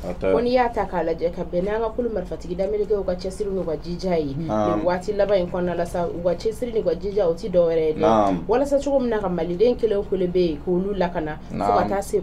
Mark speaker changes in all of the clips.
Speaker 1: ko n'i y'a ta k'a lajɛ ka bɛn n'an ka kulu marifatigi dameleke u ka cɛsiri n'u ka jija ye nin waati laban in kɔnɔna la sa u ka cɛsiri n'u ka jija o ti dɔ wɛrɛ ye dɛ walasa cogo min na ka maliden kelen o kelen bɛ yen k'olu lakana fo ka taa se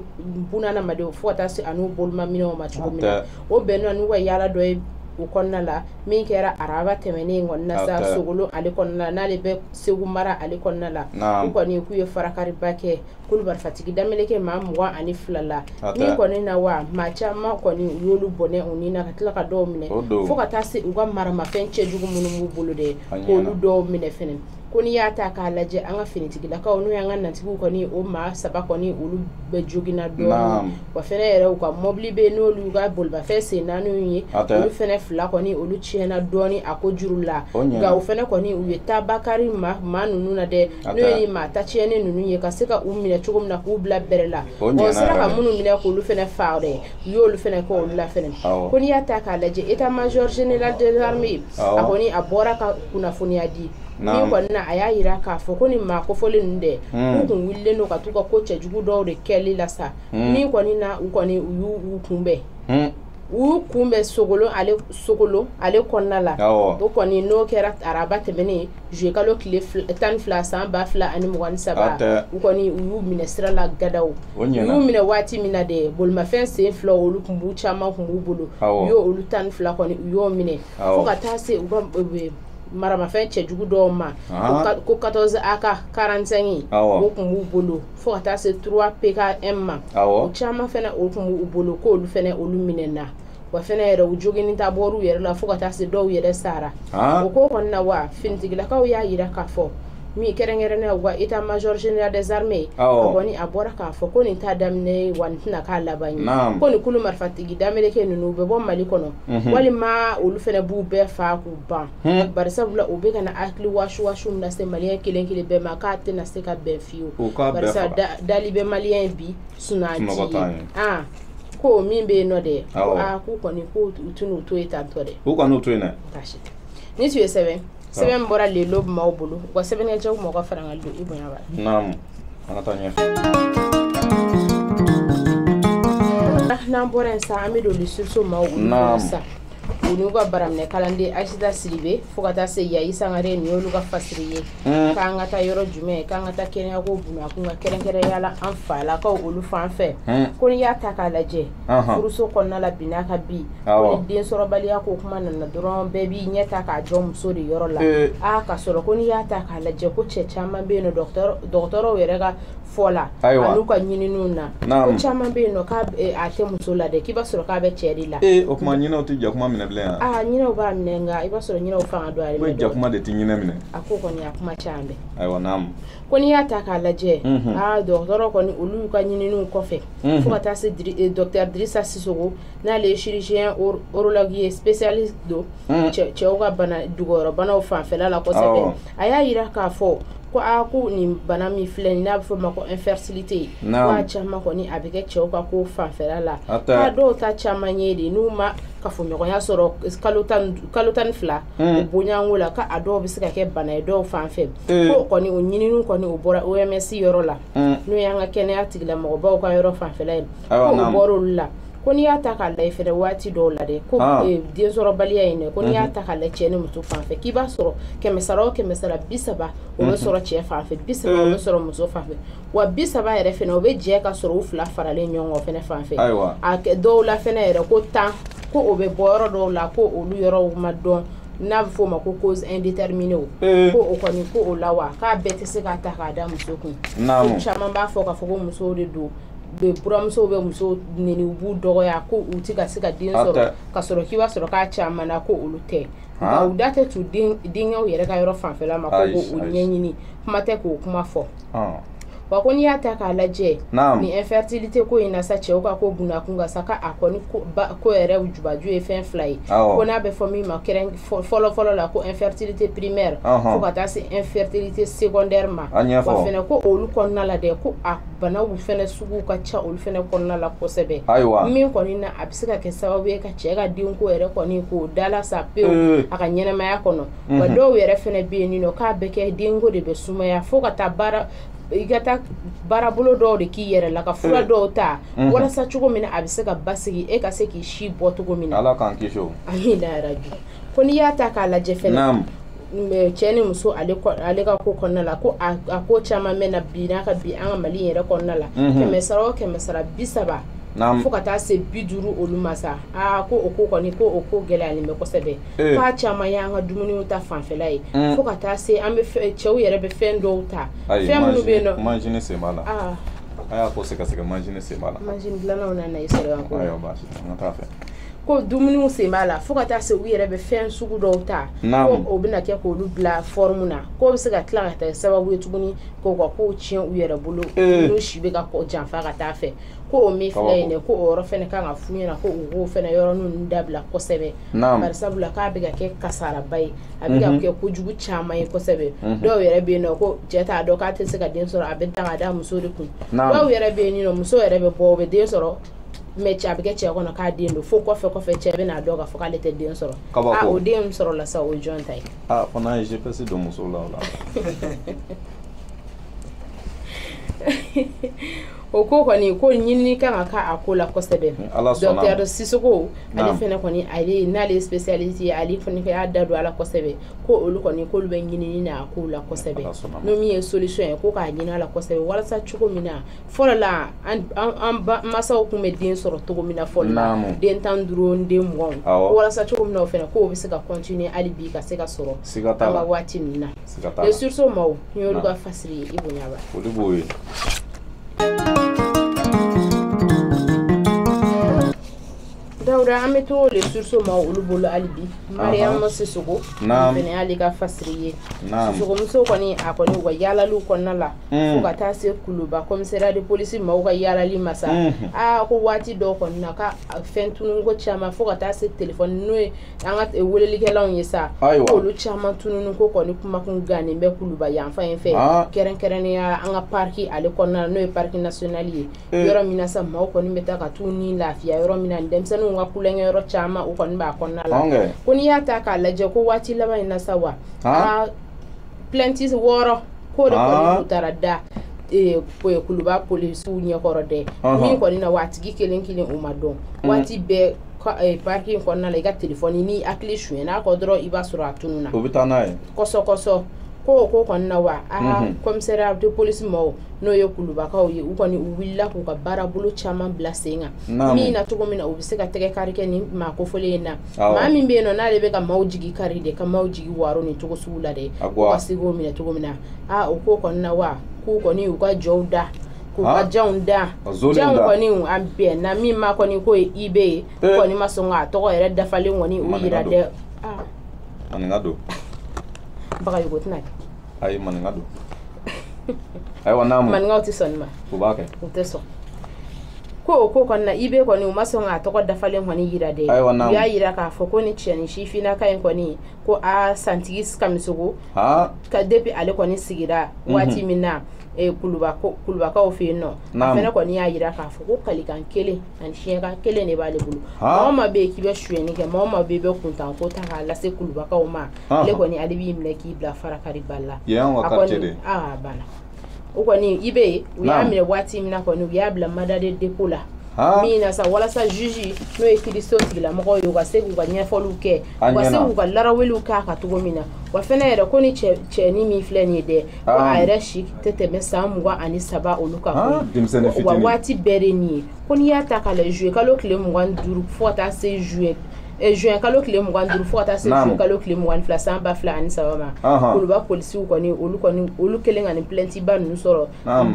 Speaker 1: bunadamadenw fo ka taa se an'u bolomaminɛnw ma cogo min na o bɛnna n'u ka yaala dɔ ye o kɔnɔna la min kɛra araba tɛmɛnen in kɔnɔna ah, sa sogolon ale kɔnɔna n'ale bɛ segu mara ale kɔnɔna la u kɔni k'u ye farakariba kɛ kulu marifatigi dameleke maa mugan ani fila la nin kɔni na wa maa caman kɔni u y'olu bɔnɛ u ni na ka tila ka dɔw minɛ fo ka taa se u ka maramafɛn cɛjugu minnu b'u bolo de k'olu dɔw minɛ fɛnɛ ko n'i y'a ta k'a lajɛ an ka finitigilakaw n'o y'an kanatigiw kɔni o maa saba kɔni olu bɛɛ joginna dɔɔni wa fɛnɛ yɛrɛ u ka mɔbili bɛ n'olu y'u ka bolimafɛn sen naaniw ye olu fɛnɛ fila kɔni olu tiɲɛna dɔɔni a ko juru la nka u fɛnɛ kɔni u ye taabakari maa ninnu na dɛ n'o ye maa ta tiɲɛnen ninnu ye ka se ka u minɛ cogo min na k'u bila bɛrɛ la u sera ka minnu minɛ k'olu fɛnɛ faa dɛ u y'olu fɛnɛ kɛ olu la fɛnɛ ko n'i y'a ta k'a lajɛ état major général des armées a kɔni a bɔra ka kunnafoniya di nin kɔni na a y'a yira k'a fɔ ko nin maa kofɔlen ninnu dɛ hmm. u kun wulilen don ka t'u ka ko cɛjugu dɔw de kɛli la sa hmm. nin kɔni na u kɔni u y'u kunbɛn hmm. u kunbɛn sogolon ale kɔnɔna la o kɔni n'o kɛra araba tɛmɛnen juillet kalo tile tan ni fila san ba fila ani mugan ni saba u kɔni u y'u minɛ sira la gadaw u y'u minɛ waati min na dɛ bolimafɛn sen fila olu kun b'u caman kun b'u bolo u y'olu tan ni fila kɔni u y'o minɛ fo ka taa se u ka maramafɛn cɛjugu dɔw ma ko 14 AK 45 o kun b'u bolo fo ka taa se trois PKM ma awɔ o caman fɛnɛ o kun b'u bolo k'olu fɛnɛ olu minɛna wa fɛnɛ yɛrɛ u joginni ta bɔr'u yɛrɛ la fo ka taa se dɔw yɛrɛ sara ah o ko kɔni na wa finitigilakaw y'a yira k'a fɔ min kɛrɛnkɛrɛnnenya u ka état major général des armées Awɔ. a kɔni a bɔra k'a fɔ ko nin t'a daminɛ ye wa nin tɛna k'a laban ye Naam. ko nin kulu marifatigi dameleke ninnu u bɛ bɔ mali kɔnɔ Mhm. walima olu fɛnɛ b'u bɛɛ faa k'u ban Hmm. barisabula u bɛ ka na hakili wasuwasiw lase maliyɛn kelen kelen bɛɛ ma k'a tɛna se ka bɛn dali bɛ maliyɛn bi sun ko min bɛ yen nɔ dɛ k'u kɔni tun to yen tantɔ dɛ u kɔni to yen
Speaker 2: ni
Speaker 1: tun ye sɛbɛn sɛbɛn bɔra le dɔ b'aw bolo u ka sɛbɛnkɛcɛ mɔgɔ fara ka don
Speaker 2: i bonya
Speaker 1: n'an bɔra yen sa an bɛ don susu ma sa u n'u ka baraminɛ kalanden asita sidibe fo ka taa se yayi sangare nin y'olu ka fasiri ye k'an ka taa yɔrɔ jumɛn k'an ka taa kɛnɛyako bunda kun kan kɛrɛnkɛrɛnya la an falakaw olu fan fɛ ko n'i y'a ta k'a lajɛ furuso kɔnɔna la bi n'a ka bi ko ni densɔrɔbaliya ko kuma nana dɔrɔn bɛɛ b'i ɲɛ ta k'a jɔ muso de yɔrɔ la aa ka sɔrɔ ko n'i y'a ta k'a lajɛ ko cɛ caman bɛ yen nɔ dɔgɔtɔrɔw yɛrɛ ka fɔ la an'u ka ɲininiw na ko caman bɛ yen nɔ k'a eh, a tɛ muso la dɛ k'i b'a sɔrɔ k'a bɛ cɛ de la ee o tuma ɲinɛw tɛ
Speaker 2: jakuma minɛ bilen yan aa ɲinɛw b'a
Speaker 1: minɛ nka i b'a sɔrɔ ɲinɛw fanga don ale la jakuma de tɛ ɲinɛ minɛ
Speaker 2: a ko kɔni a kuma caman
Speaker 1: bɛ ayiwa naamu
Speaker 2: ko n'i y'a ta
Speaker 1: k'a lajɛ mhm. aa dɔgɔtɔrɔ kɔni olu ka ɲininiw kɔfɛ mhm. fo ka taa se eh, docteur dirisa sisoko n'ale ye chirurgien urologue ye spécialiste don mhm. cɛw ka bana dogoyɔrɔbanaw fanfɛla la kosɛbɛ a y'a yira k'a fɔ ko aa ko nin bana min filɛ nin n'a bɛ f'o ma ko infertilité ko a caman kɔni a bɛ kɛ cɛw ka ko fanfɛla la k'a dɔw ta caman ye de n'u ma kafoɲɔgɔnya sɔrɔ kalo tan ni fila hmm. o bɔɲɔgɔnko la k'a dɔw bɛ se ka kɛ bana ye dɔw fan fɛ eh. ko kɔni o ɲininiw kɔni o bɔra OMS yɔrɔ la hmm. n'o y'an ka kɛnɛya tigilamɔgɔbaw ka yɔrɔ fanfɛla ye ko o bɔra olu la ko n'i y'a ta k'a lajɛ fɛnɛ waati dɔw la dɛ ko ah. eh, densɔrɔbaliya in dɛ ko n'i y'a mhm. ta k'a la cɛ ni muso fan fɛ k'i b'a sɔrɔ kɛmɛ sara o kɛmɛ sara bi saba o bɛ mhm. sɔrɔ cɛ fan fɛ bi saba o bɛ eh. sɔrɔ muso fan fɛ wa bi saba yɛrɛ fɛnɛ o bɛ jɛ ka sɔrɔ u fila faralen ɲɔgɔn kan fɛnɛ fan fɛ a dɔw la fɛnɛ yɛrɛ ko tan ko o bɛ bɔ yɔrɔ dɔw la ko olu yɔrɔw ma dɔn n'a bɛ f'o ma ko cause indéterminée o eh. ko o kɔni ko o la wa k'a bɛɛ tɛ se ka ta k'a da muso kun caman b'a fɔ k'a fɔ ko musow de don buranmusow bɛ muso neni u b'u dɔgɔya ko u tɛ ka se ka den sɔrɔ ka sɔrɔ k'i b'a sɔrɔ k'a caman na ko olu tɛ nka u da tɛ t'u denkɛw yɛrɛ ka yɔrɔ fanfɛla ma ko k'o ɲɛɲini kuma tɛ k'o kuma fɔ wa ko n'i y'a ta k'a lajɛ nin infertilité ko in na sa cɛw ka ko bunakun ka ca k'a kɔni ko yɛrɛ jubaju ye fɛn fila ye ko n'a bɛ fɔ min ma kɛrɛn fɔlɔ fɔlɔ la ko infertilité primaire fo ka taa se infertilité secondaire ma wa fɛnɛ ko olu kɔnɔna la dɛ ko a banaw fɛnɛ sugu ka ca olu fɛnɛ kɔnɔna la kosɛbɛ ayiwa min kɔni na a bɛ se ka kɛ sababu ye ka cɛ ka denko yɛrɛ kɔni k'o dalasa pewu eh. a ka ɲɛnamaya kɔnɔ mhm. wa dɔw yɛrɛ fɛnɛ bɛ yen nɔ k'a bɛ kɛ denko de bɛ sumaya fo ka taa i ka taa baarabolo dɔw de k'i yɛrɛ la ka fura eh. dɔw ta mhm. walasa cogo min na a bɛ se ka basigi e ka se k'i si bɔ cogo min na ala k'an kisi o
Speaker 2: amina yarabi
Speaker 1: ko n'i y'a ta k'a lajɛ fɛnɛ cɛ ni muso ale ka ko kɔnɔna la ko a ko caman bɛ na bi nka bi an ka mali yɛrɛ kɔnɔna la mhm. kɛmɛ sara o kɛmɛ sara bi saba fo ka taa se bi duuru olu ma sa aa ko o ko kɔni ko o ko gɛlɛyalen bɛ kosɛbɛ eh. k'a caman ye an ka dumuniw ta fanfɛla ye mm. fo ka taa se an bɛ cɛw yɛrɛ bɛ fɛn dɔw ta fɛn minnu bɛ yen nɔ manzini sen b'a la
Speaker 2: ah. a y'a ko sɛgɛsɛgɛ manzini sen b'a la manzini dilannaw na na i
Speaker 1: sɔrɔ yan ko ayiwa baasi tɛ an ka taa fɛ
Speaker 2: ko
Speaker 1: dumuniw sen b'a la fo ka taa se u yɛrɛ bɛ fɛn sugu dɔw ta ko o bɛna kɛ k'olu bila fɔrmu na k'o bɛ se ka tila ka taa sababu ye tuguni k'o ka kow tiɲɛ u yɛrɛ bolo eh. n'u si bɛ ka janfa ka taa fɛ ko o min filɛ yen dɛ ko o yɔrɔ fɛnɛ kan ka f'u ɲɛna ko u k'o fɛnɛ yɔrɔninw dabila kosɛbɛ bari sabula k'a bɛ ka kɛ kasaraba ye a bɛ ka mhm. kɛ kojugu caman ye kosɛbɛ mhm. dɔw yɛrɛ bɛ yen nɔ ko cɛ t'a dɔn k'a tɛ se ka den sɔrɔ a bɛ ta ka da muso de kun dɔw yɛrɛ bɛ yen nɔ muso yɛrɛ bɛ bɔ o bɛ den sɔrɔ mais cɛ a bɛ kɛ cɛ kɔnɔ k'a den don fo kɔfɛ kɔfɛ cɛ bɛ n'a dɔn k'a fɔ k'ale tɛ den sɔrɔ ah, o den sɔrɔla sa o jɔn ta ye ah, fana n'a ye gps
Speaker 2: don muso la o la
Speaker 1: o ko kɔni ko ɲinini kan ka k'a ko la kosɛbɛ docteur sisoko ale fana kɔni ale n'ale ye spécialiste ye ale fana y'a da don a la kosɛbɛ ko olu kɔni k'olu bɛ ɲinini na a ko la kosɛbɛ n'o min ye solution ye ko k'a ɲini a la kosɛbɛ walasa cogo min na fɔlɔ la an masaw tun bɛ den sɔrɔ cogo min na fɔlɔ la den tan duuru den mugan walasa cogo min na o fana k'o bɛ se ka continuer hali bi ka se ka sɔrɔ an ka waati ninnu na le sursaut maaw n y'olu ka fasiri ye i bonya ba olu b'o ye dawuda an bɛ to le sursaut maa olu bolo hali bi mariyamu sisoko fɛnɛ y'ale ka fasiri ye sisokomuso kɔni a kɔni u ka yaalaliw kɔnɔna la fo ka taa se kuluba commissariat de police maaw ka yaalali ma sa aa ko waati dɔw kɔni na ka fɛn tunun ko caman fo ka taa se telefɔni n'o ye an ka welelikɛlanw ye sa olu caman tunun ko kɔni kumakun gannen bɛ kuluba yanfan in fɛ kɛrɛnkɛrɛnnenya an ka parc ale kɔnɔna n'o ye parc national ye yɔrɔ min sa maaw kɔni bɛ taa ka t'u ni lafiya yɔrɔ min na denmisɛnninw ka tulonkɛyɔrɔ caman u kɔni b'a kɔnɔna la ko n'i y'a ta k'a lajɛ ko waati laban in na sa wa plainte wɔɔrɔ k'o de kɔni ah. tun taara da eh, kuluba polisiw ɲɛkɔrɔ dɛ min kɔni na wa a tigi kelen kelen u ma dɔn mm. waati bɛɛ eh, parc kɔnɔna la i ka telefɔni n'i hakili sonyɛn'a kɔ dɔrɔn i b'a sɔrɔ a tununna o bɛ taa n'a
Speaker 2: ye kɔsɔkɔsɔ
Speaker 1: ko ko kɔni na wa aa ah, mhm. commissariat de police mɔgɔw n'o ye kulubakaw ye u kɔni u wulila k'u ka baarabolo caman bila sen kan min na cogo min na u bɛ se ka tɛgɛ kari kɛ nin maa kofɔlen in na maa min bɛ yen nɔ n'ale bɛ ka maaw jigi kari de ka maaw jigi waro nin cogo sugu la dɛ ka se k'o minɛ cogo min na aa o ko kɔni na wa k'u kɔni u ka jɔw da k'u ka janw da janw kɔni an bɛnna min ma kɔni k'o ye ib ye u kɔni ma sɔn k'a tɔgɔ yɛrɛ dafalen kɔni u yira dɛ aa maninka
Speaker 2: don bagayogo
Speaker 1: tɛna kɛ ayi maninka
Speaker 2: don ayiwa n'a mun maninkaw tɛ sɔn nin ma u
Speaker 1: b'a kɛ u
Speaker 2: tɛ
Speaker 1: sɔn ko o ko kɔni na IB kɔni u ma sɔn k'a tɔgɔ dafalen kɔni yira dɛ ayiwa n'a u y'a yira k'a fɔ ko ni cɛnin sifinnaka in kɔni ko a santigi kamisogo aa ka depuis ale kɔni sigira waati min na eh, kuluba ko- kulubakaw fɛ yen nɔ a Naamu. fɛnɛ kɔni y'a yira k'a fɔ ko kalikan kelen ani siɲɛkan kelen de b'ale bolo Ha. maa o maa bɛ yen k'i bɛ suyɛni kɛ maa o maa bɛ yen i bɛ kuntanko ta k'a lase kulubakaw ma Ah. ale kɔni ale b'i minɛ k'i bila farakari bali la yen y'anw ka quartier de ye aa banna o kɔni i bɛ yen u y'a minɛ waati min na kɔni u y'a bila mandat de dépôt la min na sa walasa juge n'o ye kiriso tigilamɔgɔw ye u ka se k'u ka ɲɛfɔliw kɛ u ka se k'u ka laraweliw k'a kan cogo min na wa fɛnɛ yɛrɛ ko ni cɛni min filɛ nin ye dɛ ko a yɛrɛ si tɛ tɛmɛ san mugan ani saba olu kan ko wa waati bɛɛ de nin ye ko n'i y'a ta k'a lajɛ juillet kalo tile mugan ni duuru fo ka taa se juillet eh, juin kalo tile mugan duuru fo ka taa se juin kalo tile mugan ni fila san ba fila ani saba ma kuluba polisiw kɔni olu kɛlen ka nin plainte ba ninnu sɔrɔ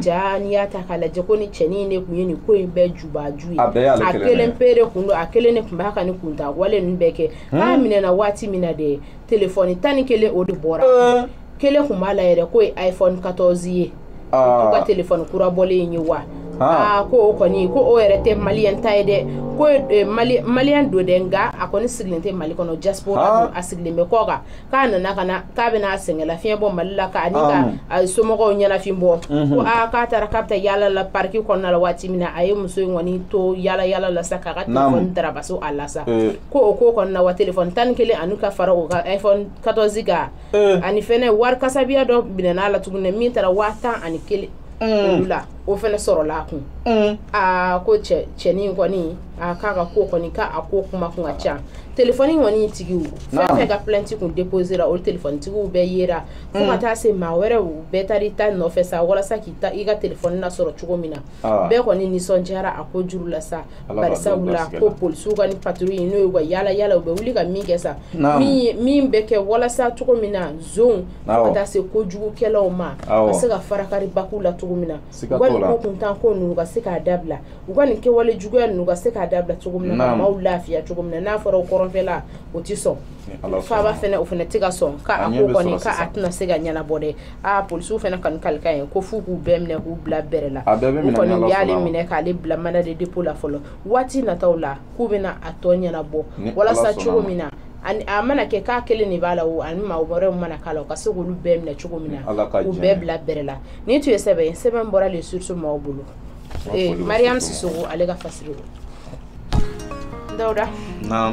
Speaker 1: ja n'i y'a ta k'a lajɛ ko ni cɛnin de kun ye nin ko in bɛɛ jubaju ye a kelen pe de kun don a kelen de kun b'a ka nin kuntan wale ninnu bɛɛ kɛ a minɛna waati min na dɛ telefɔni tan ni kelen o de bɔra eh. kelen kun b'a la yɛrɛ k'o ye iphone 14 ye ah. ka telefɔni kura bɔlen in ye wa ah. ah, ko o kɔni ko o yɛrɛ tɛ maliyɛn ta ye dɛ ko eh, maliyɛn don dɛ nka a kɔni sigilen tɛ mali kɔnɔ diaspora ah. a sigilen bɛ kɔkan k'a nana ka na k'a bɛna a sɛgɛnlafiɲɛ bɔ mali la ani ka a somɔgɔw ɲɛnafin bɔ mhm. ko aa k'a taara k'a bɛ taa yaala la pariki kɔnɔna la waati min na a ye muso in kɔni to yaala yaala la sa k'a ka telefɔni darabaso a la sa eh. ko o ko kɔni na wa telefɔni tan ni kelen ani ka fara o ka iphone 14 kan eh. ani fɛnɛ wari kasabiya dɔ minɛna a la tuguni min taara waa tan ani kelen eh. olu la o fɛnɛ sɔrɔla a kun eh. aa ko cɛ cɛnin kɔni a k'a ka ko kɔni k'a a ko kuma kun ka ca telefɔni kɔni tigiw fɛn fɛn ka plainte kun déposera olu telefɔni tigiw bɛɛ yera fo ka mm. taa se maa wɛrɛw bɛɛ taara i ta nɔfɛ sa walasa k'i ta i ka telefɔni lasɔrɔ cogo min na ah. bɛɛ kɔni nisɔndiyara a ko juru la sa bari sabula ko polisiw ka ni patrouille ye n'o ye ka yala yala u bɛ wuli ka min kɛ sa min bɛ kɛ walasa cogo min na zonw fo ka taa se kojugukɛlaw ma ka se ka farakari baku la cogo min na u ka nin ko kuntan ko ninnu ka se k'a dabila u ka nin kɛwale juguya ninnu ka se k'a dabila cogo min na ka maaw lafiya cogo min na n'a fɔra o kɔrɔnfɛla o tɛ sɔn faaba fɛnɛ o fɛnɛ tɛ ka sɔn k'a ko kɔni k'a tɛna se ka ɲɛnabɔ dɛ aa polisiw fɛnɛ kɔni kalikan ye ko f'u k'u bɛɛ minɛ k'u bila bɛrɛ la A bɛɛ bɛ u minɛ kɔni n'Ala u y'ale sɔnna. minɛ k'ale bila mandat de dépôt la fɔlɔ waati nataw la k'u bɛna a tɔ ɲɛnabɔ Ni Ala walasa sɔnna cogo ma. min na ani a mana kɛ k'a kelen de b'a la o ani maa wɛrɛw mana k'a la u ka se k'olu bɛɛ minɛ cogo min na Ni Ala ka u jɛn bɛɛ ye. bila bɛrɛ la nin tun ye sɛbɛn ye sɛbɛn bɔra le sursaut maaw bolo Wa Eh, foli bɛ mariam sursaut sisoko ale ka fasiri don dawuda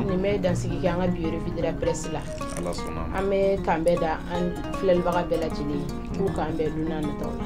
Speaker 1: nin bɛ dansigi kɛ an ka bi revue de la presse la an bɛ k'an bɛn da an filɛlibaga bɛɛ lajɛlen kun k'an bɛn don n'a nataw la